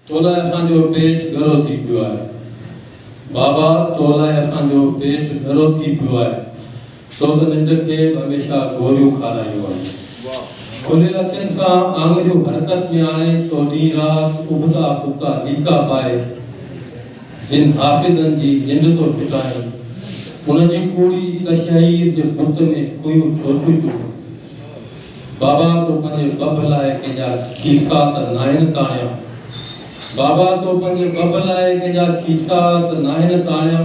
تو لاء اسان جو پيٽ ڳرو ٿي پيو آهي بابا تو لاء اسان جو پيٽ ڳرو ٿي پيو آهي تو ته ننڊ کي به هميشه گوريون کارايون آهن کليل اکين سان آڱريون حرڪت ۾ آڻي تو ڏينهن رات اڀتا ڦٻتا ليڪا پائي جن حاسدن جي ننڊ ٿو ڦٽائين ان جي ڪوڙي تشهير جي بت ۾ سويون ڇو ٿيون چوڙهين. بابا تو پنهنجي بڀ لاء ڪنهن جا کيسا ته ناهن تاڻيا بابا تو پنهنجي بڀ لاء ڪنهن جا کيسا ته ناهن تاڻيا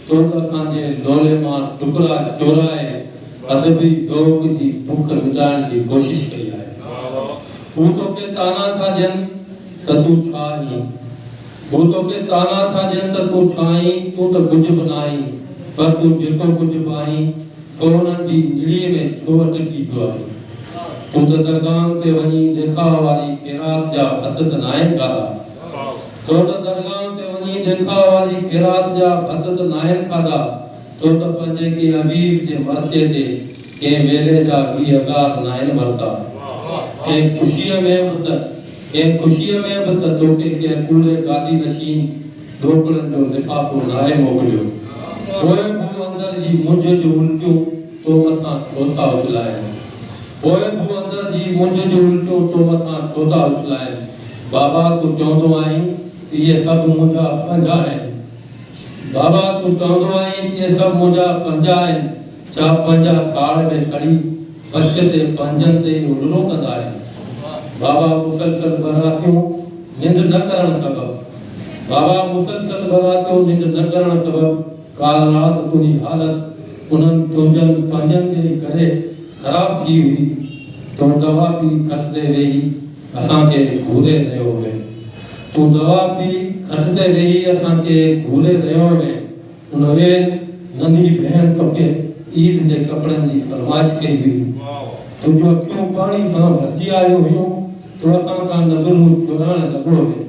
تو ته اسان جي لولي مان ٽڪرا چورائي ادبي ذوق جي بک مٽائڻ جي ڪوشش ڪئي آهي هو توکي طعنا ٿا ڏين ته تون ڇا آهين هو توکي طعنا ٿا ڏين ته تون ڇا آهين تون ته ڪجهه به ناهين پر تون جيڪو ڪجهه به آهين سو انهن جي انجڙيء ۾ ڇو اٽڪي پيو آهين؟ تون ته درگاهن تي وڃي ديکاء واري خيرات جا ڀت ته ناهن کاڌا؟ تو ته درگاهن تي وڃي ديکاء واري خيرات جا ڀت ته ناهن کاڌا؟ تو ته پنهنجي ڪنهن عزيز جي مرتي تي ڪنهن ويلي جا ويهه هزار ناهن ورتا؟ ڪنهن خوشيء ۾ به ته ڪنهن خوشيء ۾ به ته توکي ڪنهن ڪوڙي گادي نشين ڏوڪڙن جو لفافو لاهي موڪليو، پوء بوء اندر جي مونجهه جون الٽيون تو مٿان ڇو ٿا اڇلائين؟ پوء بوء اندر جي مونجهه جون الٽيون تو مٿان ڇو ٿا اڇلائين؟ بابا تون چوندو آهين ته اهي سڀ منهنجا پنهنجا آهن. بابا تون چوندو آهين ته اهي سڀ منهنجا پنهنجا آهن. ڇا پنهنجا ڪاڙ به سڙي ڪڇ تي پنهنجن تي ئي هلرو ڪندا آهن؟ بابا مسلسل براتيون ننڊ نه ڪرڻ سبب بابا مسلسل براتيون ننڊ نه ڪرڻ سبب ڪالهه رات تنهنجي حالت انهن تنهنجن پنهنجن جي ئي ڪري خراب ٿي هئي. تون دوا پي کٽ تي ويهي اسان کي گهوري رهيو هئين تون دوا پي کٽ تي ويهي اسان کي گهوري رهيو هئين. انهيء ننڍي ڀيڻ توکي عيد جي ڪپڙن جي فرمائش ڪئي هئي. تون جون اکيون پاڻي سان ڀرجي آيو هيون، تو اسان کان نظرون چورائڻ لڳو هين.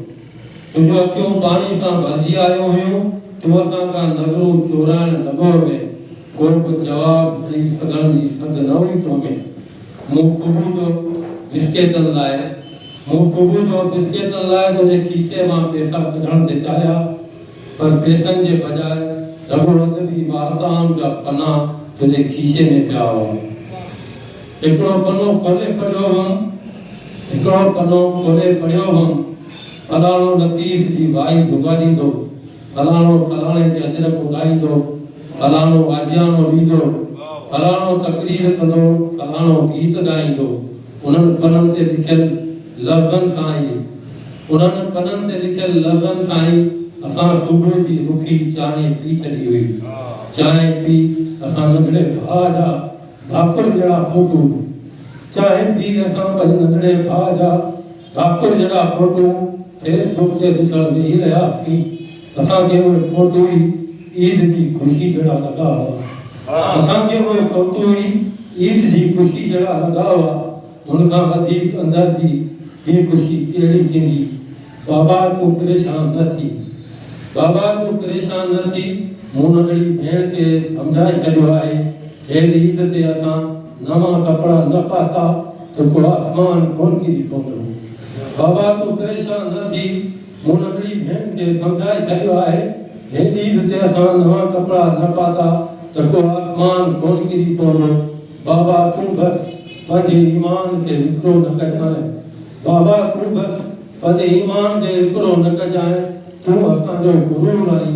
تون جون اکيون پاڻي سان ڀرجي آيو هيون، تو اسان کان نظرون چورائڻ لڳو هين. ڪو به جواب ڏئي سگهڻ جي سگهه نه هئي تو ۾. مون صبح جو بسڪيٽن لاء مون صبح جو بسڪيٽن لاء تنهنجي کيسي مان پئسا ڪڍڻ تي چاهيا. پر پيسن جي بجاء رڳو ادب ئي وارتائن جا پنا تنهنجي کيسي ۾ پيا هئا. هڪڙو پنو کولي پڙهيو هئم هڪڙو پنو کولي پڙهيو هئم فلاڻو لطيف جي وائي ڀڳاڙيندو، فلاڻو فلاڻي جي اجرڪ اڏائيندو، فلاڻو آجياڻو ڏيندو، فلاڻو تقرير ڪندو، فلاڻو گيت ڳائيندو. انهن پنن تي لکيل لفظن سان ئي انهن پنن تي لکيل لفظن سان ئي اسان صبح جي رکي چانهه پي ڇڏي هئي. چانهه پي اسان ننڍڙي ڀاء جا ڀاڪر جهڙا فوٽو چانهه پي اسان پنهنجي ننڍڙي ڀاء جا. ڊاڪٽر جهڙا فوٽو فيس بڪ تي ڏسڻ ويهي رهياسين، اسان کي اهي فوٽو ئي عيد جي خوشي جهڙا لڳا هئا. اسان کي اهي فوٽو ئي عيد جي خوشي جهڙا لڳا هئا، هن کان وڌيڪ اندر جي ٻي خوشي ڪهڙي ٿيندي؟ بابا تون پريشان نه ٿي. بابا تون پريشان نه ٿي، مون ننڍڙي ڀيڻ کي سمجهائي ڇڏيو آهي، هيل عيد تي اسان. نوان ڪپڙا نه پاتا ته ڪو آسمان ڪونه ڪري پوندو. بابا تون پريشان نه ٿي، مون ننڍڙي ڀيڻ کي سمجهائي ڇڏيو آهي، هن عيد تي اسان نوان ڪپڙا نه پاتا ته ڪو آسمان ڪونه ڪري پوندو. بابا تون بس پنهنجي ايمان کي وڪرو نه ڪجانء. بابا تون بس پنهنجي ايمان کي وڪرو نه ڪجانء، تون اسان جو غرور آهين،